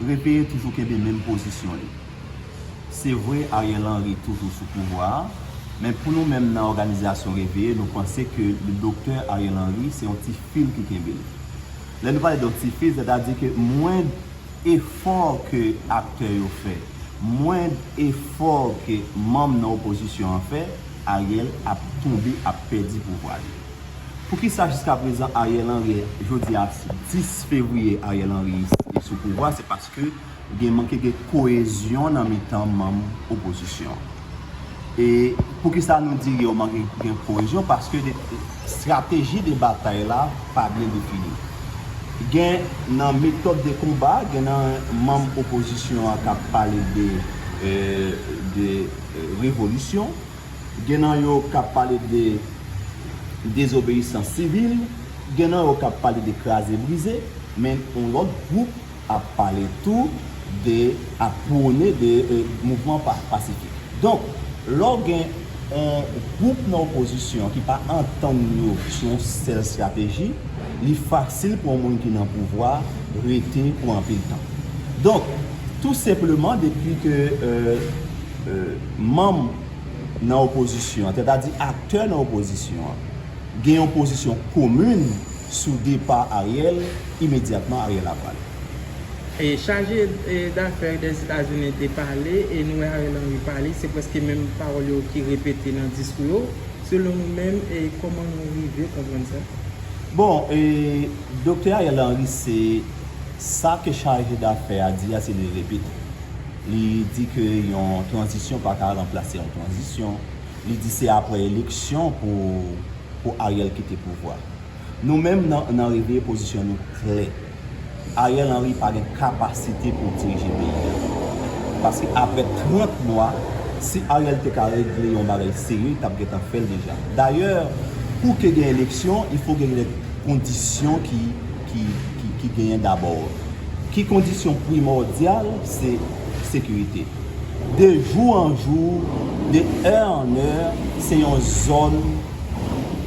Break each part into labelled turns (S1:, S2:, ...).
S1: Repeye toujou kenbe menm pozisyon li. Se vre Ariel Henry toujou sou pouvwa a, men pou nou menm nan òganizasyon Reveye nou panse ke le Docteur Ariel Henry se yon ti fil ki kenbe l. Lè nou pale de yon ti fil, sètadi ke mwend efò ke aktè yo fè, mwend efò ke manm nan opozisyon an fè, Ariel ap tonbe, ap pèdi pouvwa li. Poukisa jiska prezan Ariel Henry jodi a 10 fevriye Ariel Henry sou pouvwa se paske gen manke gen koezyon nan mitan manm opozisyon e poukisa nou di yo manke gen koezyon paske estrateji de batay la pa byen defini gen nan metòd de konba gen nan manm opozisyon an kap pale de revolisyon. Gen nan yo k ap pale de dezobeyisans sivil, gen nan yo k ap pale de kraze brize, men yon lòt gwoup ap pale tou de, ap pwone de mouvman pasifik. Donk, lè w gen yon gwoup nan opozisyon an ki pa antann yo sou yon sèl estrateji, li fasil pou yon moun ki nan pouvwa rete pou anpil tan. Donk, tou senpleman depi ke. manm nan opozisyon an, sètadi aktè nan opozisyon an, gen yon pozisyon komin sou depa Ariel, imedyatman Ariel ap ale.
S2: Chaje dafè Dèzetazini te pale e nou wè Ariel Henry pale, se prèske menm pawòl yo ki repete nan diskou yo. Selon nou menm, kòman nou rive konprann sa? Bon,
S1: Doktè Ariel Henry se sa ke chaje dafè a di a se li repete. Li di ke yon tranzisyon pa ka ranplase yon tranzisyon. Li di se apre eleksyon pou Ariel kite pouvwa. Nou menm nan Reveye pozisyon nou klè. Ariel Henry pa gen kapasite pou dirije peyi a. Paske apre 30 mwa, si Ariel te ka regle yon bagay serye, li t ap gen tan fè l deja. Dayè, pou ke gen eleksyon, il fo gen kondisyon ki. ki genyen dabò. Ki kondisyon primòdyal se sekirite. De jou an jou, de è an è, se yon zòn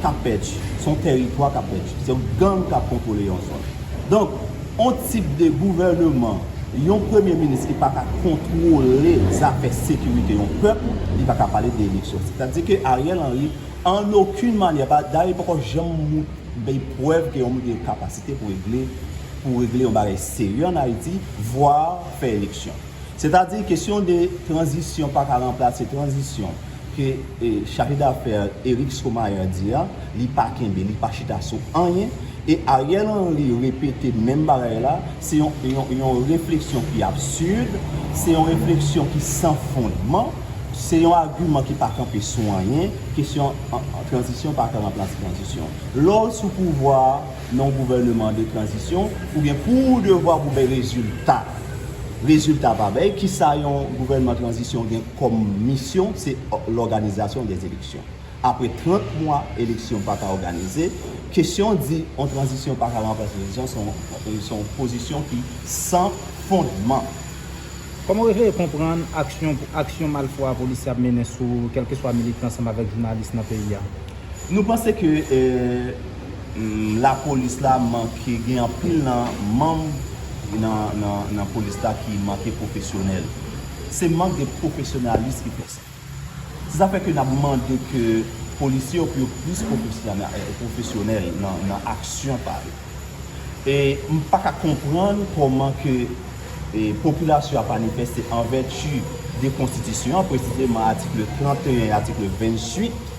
S1: k ap pèdi. Se yon tèritwa k ap pèdi. Se gang k ap kontwole yon zòn. Donk, yon tip de gouvèneman, yon premye minis ki pa ka kontwole zafè sekirite yon pèp, li pa ka pale de eleksyon. Sètadi ke Ariel Henry, an okin manyè, dayè li poko janm. M bay prèv ke yon moun gen kapasite pou regle pou regle yon bagay serye an Ayiti, voir fè eleksyon. Sètadi kesyon de tranzisyon pa ka ranplase tranzisyon ke chaje dafè Eric Stromayer di a, li pa kenbe, li pa chita sou anyen e Ariel Henry repete menm bagay la, se yon refleksyon ki absurde, se yon refleksyon ki san fondman. Se yon agiman ki pa kanpe sou anyen, kesyon tranzisyon pa ka ranplase tranzisyon. Lè w sou pouvwa a nan yon gouvèneman de tranzisyon, ou gen pou ou devwa pou bay rezilta. Rezilta pa bay, ki sa yon gouvèneman tranzisyon gen kòm misyon, se lòganizasyon de eleksyon. Apre 30 mwa eleksyon pa ka òganize, kesyon di yon tranzisyon pa ka ranplase tranzisyon se yon pozisyon ki san fondman.
S3: Kòman w eseye konprann aksyon pou aksyon malfwa polisye ap mennen sou kèlkeswa militan ansanm avèk jounalis nan peyi a? Nou panse
S1: ke lapolis la manke, gen anpil nan manm nan polis la ki manke pwofesyonèl. Se mank de pwofesyonalis ki fè sa. Se sa fè ke n ap mande ke polisye yo pou yo plis pwofesyonèl nan aksyon pa yo. E m pa ka konprann kòman ke popilasyon ap manifeste an vèti de konstitisyon an, presizeman atikle 31 e atikle 28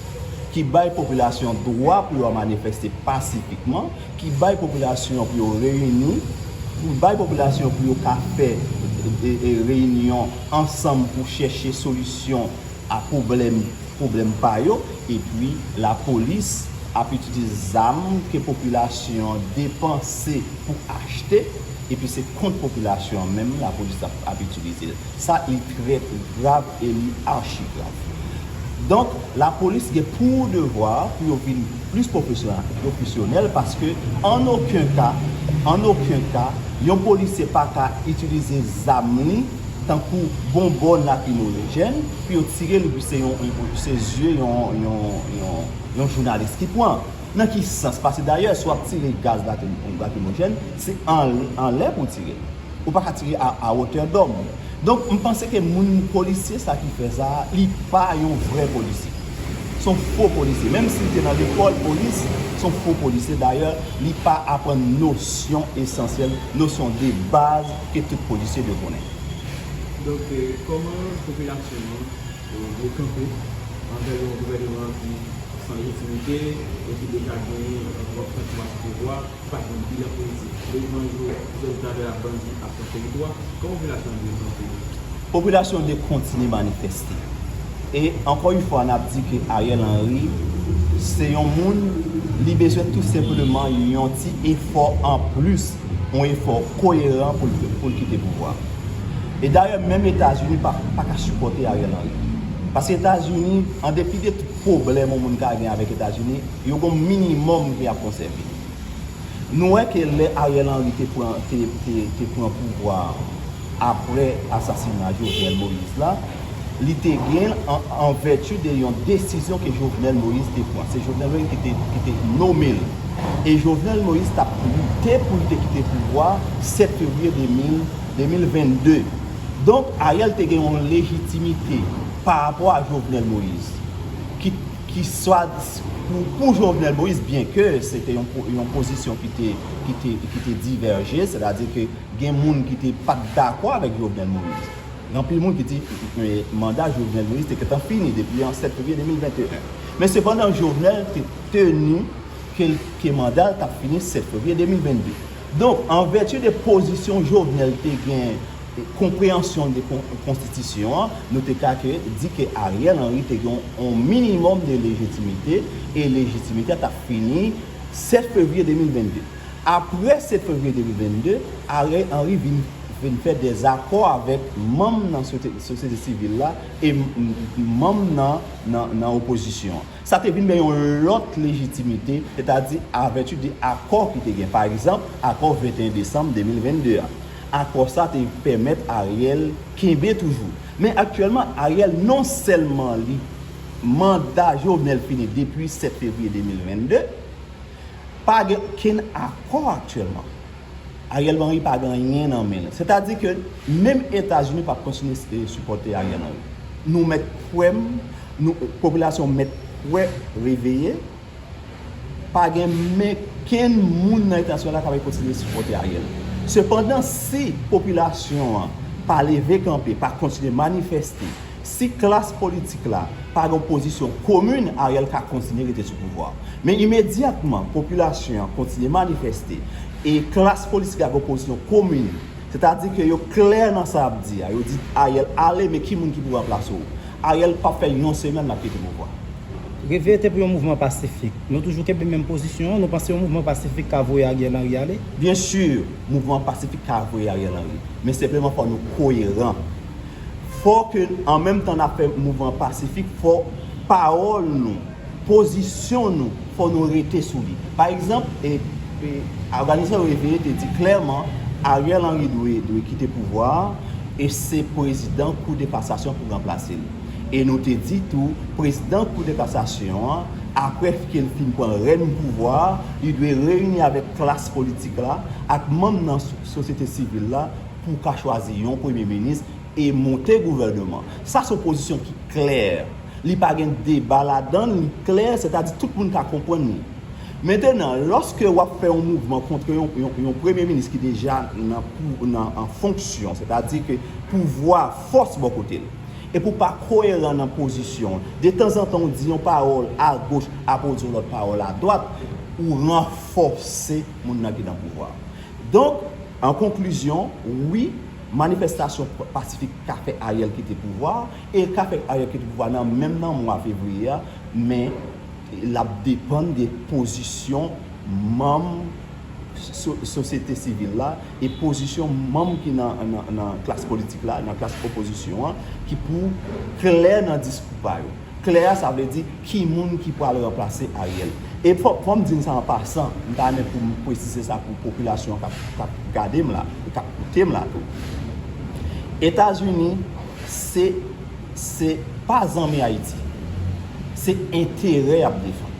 S1: ki bay popilasyon dwa pou yo manifeste pasifikman. ki bay popilasyon an pou yo reyini, pou bay popilasyon pou yo ka fè reyinyon ansanm pou chèche solisyon a pwoblèm pwoblèm pa yo, epi lapolis ap itilize zam ke popilasyon an depanse pou achte, epi se kont popilasyon an menm lapolis ap itilize l. Sa li trè trè grav e li achi grav. Donk lapolis gen pou devwa pou yo vin plis pwofesyonèl paske an oken ka, an oken ka yon polisye pa ka itilize zam li tankou bonbòn lakrimojèn pou yo tire l epi se yon se zye yon yon jounalis ki pran. Nan ki sans? Paske dayè si w ap tire gaz lakrimojèn se anlè pou w tire l. Ou paka tire a a wotè dòm. Donk m panse ke moun polisye sa ki fè sa a li pa yon vrè polisye. S on fo polisye. Menm si l te nan lekòl polis, s on fo polisye. Dayè, li pa aprann nosyon esansyèl, nosyon de baz ke tout polisye dwe konnen. Donk,
S4: kòman popilasyon an dwe kanpe anvè yon gouvèneman ki san lejitimite e ki deja genyen twòp tank mas pouvwa? ki pa gen bilan politik, lojman zo, zòn tavè ak bandi ap pran teritwa, kòman popilasyon an dwe kanpe yo? Popilasyon
S1: dwe kontinye manifeste. E ankò yon fwa nap di ke Ariel Henry se yon moun li bezwen tou senpleman yon ti efò an plis, yon efò koyeran pou l kite pouvwa. E dayè menm Etazini pa ka sipòte Ariel Henry. Paske Etazini, an depi de tout pwoblèm yon moun ka gen avèk Etazini, yo gen yon minimòm ke yap konsève. Nou wè ke lè Ariel Henry te pran te pran pouvwa apre asasina Jovenel Moïse la, li te gen l an vèti de yon desizyon ke Jovenel Moïse te pran. Se Jovenel Moïse ki te nome l. E Jovenel Moïse t ap lite pou l te kite pouvwa 7 fevriye 2022. Donk, Ariel te gen yon lejitimite parapò a Jovenel Moïse ki. ki swat pou Jovenel Moïse byen ke se te yon pozisyon ki te divèje, sè ta di ke gen moun ki te pa t dakò avèk Jovenel Moïse. Gen anpil moun ki di manda Jovenel Moïse te gentan fini depi an 7 fevriye 2021. Men sepandan Jovenel te teni ke manda l t ap fini 7 fevriye 2022. Donk an vèti de pozisyon Jovenel te gen konpreyansyon de konstitisyon an, nou te ka ke di ke Ariel Henry te gen yon minimòm de lejitimite, e lejitimite a t ap fini 7 fevriye 2022. Apre 7 fevriye 2022, Ariel Henry vin vin fè dè zakò avèk manm nan sosyete sivil la e manm nan nan opozisyon an. Sa te vin bay yon lòt lejitimite, sètadi a vèti de akò ki te gen. Pa egzanp, akò 21 desanm 2022 a. Akò sa te pèmèt Ariel kenbe toujou. Men aktyèlman, Ariel non sèlman li manda Jovenel fini depi 7 fevriye 2022, pa gen okenn akò aktyèlman. Ariel Henry pa gen anyen nan men l. Sètadi ke menm Etazini pa p kontinye sipòte Ariel Henry. Nou mèt kwè m, popilasyon mèt kwè, reveye, pa gen men kenn moun nan Etazini la k ap kontinye sipòte Ariel. Sepandan, si popilasyon an pa leve kanpe, pa kontinye manifèste, Si klas politik la pa gen yon pozisyon komin, Ariel ka kontinye rete sou pouvwa a. Men imedyatman popilasyon an kontinye manifeste e klas politik la gen yon pozisyon komin, sètadi ke yo klè nan sa y ap di a, yo di Ariel ale men ki moun ki pou ranplase w, Ariel p ap fè yon semèn l ap kite pouvwa a. Reve te pou
S3: yon mouvman pasifik. Nou toujou kenbe menm pozisyon an, nou panse yon mouvman pasifik ka voye Ariel Henry ale? Byen sur,
S1: mouvman pasifik ka voye Ariel Henry. Men senpleman fò nou koyeran. Fò ke, an menm tan n ap fè mouvman pasifik, fò pawòl nou, pozisyon nou, fò nou rete sou li. Pa egzanp, Oganizasyon Reveye te di klèman Ariel Henry dwe kite pouvwa a e se prezidan Kou de Kasasyon pou ranplase li. E nou te di tou, prezidan Kou de Kasasyon an, apre ke l fin pran rèn pouvwa a, li dwe reyini avèk klas politik la, ak manm nan sosyete sivil la, pou w ka chwazi yon premye minis e monte gouvèneman. Sa se yon pozisyon ki klè. Li pa gen deba ladan l, li klè, sètadi tout moun ka konprann li. Mentenan, lòske w ap fè yon mouvman kontre yon premye minis ki deja nan an fonksyon, sètadi ke pouvwa a fòs bò kote l, epi w pa koyeran nan pozisyon w, detanzantan w di yon pawòl agoch apre w di yon lòt pawòl adwat, ou ranfòse moun nan ki nan pouvwa a. Donk, an konklizyon, wi, manifestasyon pasifik ka fè Ariel kite pouvwa a, e l ka fè Ariel kite pouvwa a nan menm nan mwa fevriye a, men l ap depann de pozisyon manm sosyete sivil la e pozisyon manm ki nan klas politik la, nan klas opozisyon an, ki pou klè nan diskou pa yo. Klè a sa vle di ki moun ki pral ranplase Ariel. E fò m di n sa an pasan, m ta renmen pou m pwesize sa pou popilasyon k ap gade m la e k ap koute m la tou. Etazini se se pa zanmi Ayiti. Se enterè y ap defann.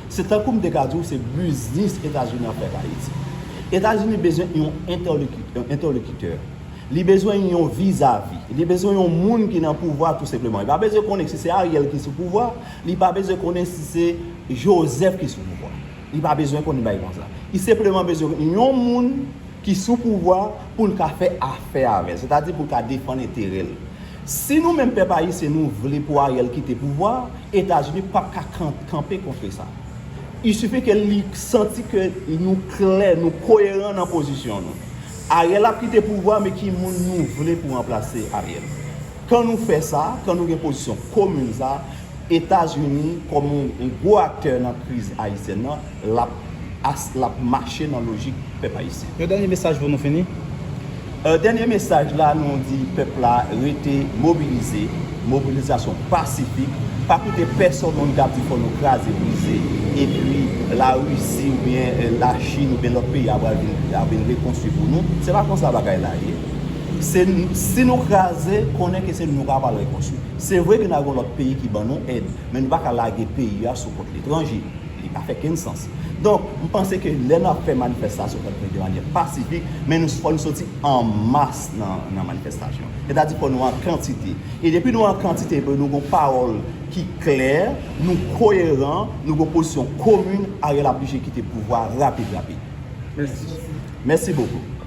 S1: Se tankou m te ka di w se biznis Etazini ap fè ak Ayiti. Etazini bezwen yon entèlokitè. Li bezwen yon vizavi. Li bezwen yon moun ki nan pouvwa tou senpleman. Li pa bezwen konnen si se Ariel ki sou pouvwa. Li pa bezwen konnen si se Joseph ki sou pouvwa. Li pa bezwen konnen bagay konsa. Li senpleman bezwen yon moun ki sou pouvwa pou l ka fè afè avè l. Sètadi pou l ka defann enterè l. Si nou menm pèp ayisyen nou vle pou Ariel kite pouvwa, Etazini pap ka kanpe kontre sa. Isufi ke li santi ke nou klè, nou koyeran nan pozisyon nou. Ariel ap kite pouvwa men ki moun nou vle pou ranplase Ariel. Kan nou fè sa, kan nou gen pozisyon komun sa, Etazini kòm yon gwo aktè nan kriz ayisyèn nan, lap lap mache nan lojik pèp ayisyen. Yon dènye mesaj pou nou fini.
S3: Dènye
S1: mesaj la nou di pèp la rete mobilize. Mobilizasyon pasifik, pa koute pèsonn moun kap di fò nou kraze brize epi la Russie ou byen la Chine ou byen lòt peyi a pral vin ap vin rekonstwi pou nou, se pa konsa bagay la ye. Se si nou kraze konnen ke se nou kap al rekonstwi. Se vre ke na gon lòt peyi ki ban nou èd, men nou pa ka lage peyi a sou kont letranje, li pa fè kenn sans. Donk, m panse ke lè nap fè manifestasyon fòk nou fè de manyè pasifik, men nou fò nou soti an mas nan manifestasyon. Sètadi kò nou an kantite. E depi nou an kantite epi nou gon pawòl ki klè, nou koyeran, nou gon pozisyon komin, Ariel ap blije kite pouvwa rapid rapid. Mèsi. Mèsi bokou.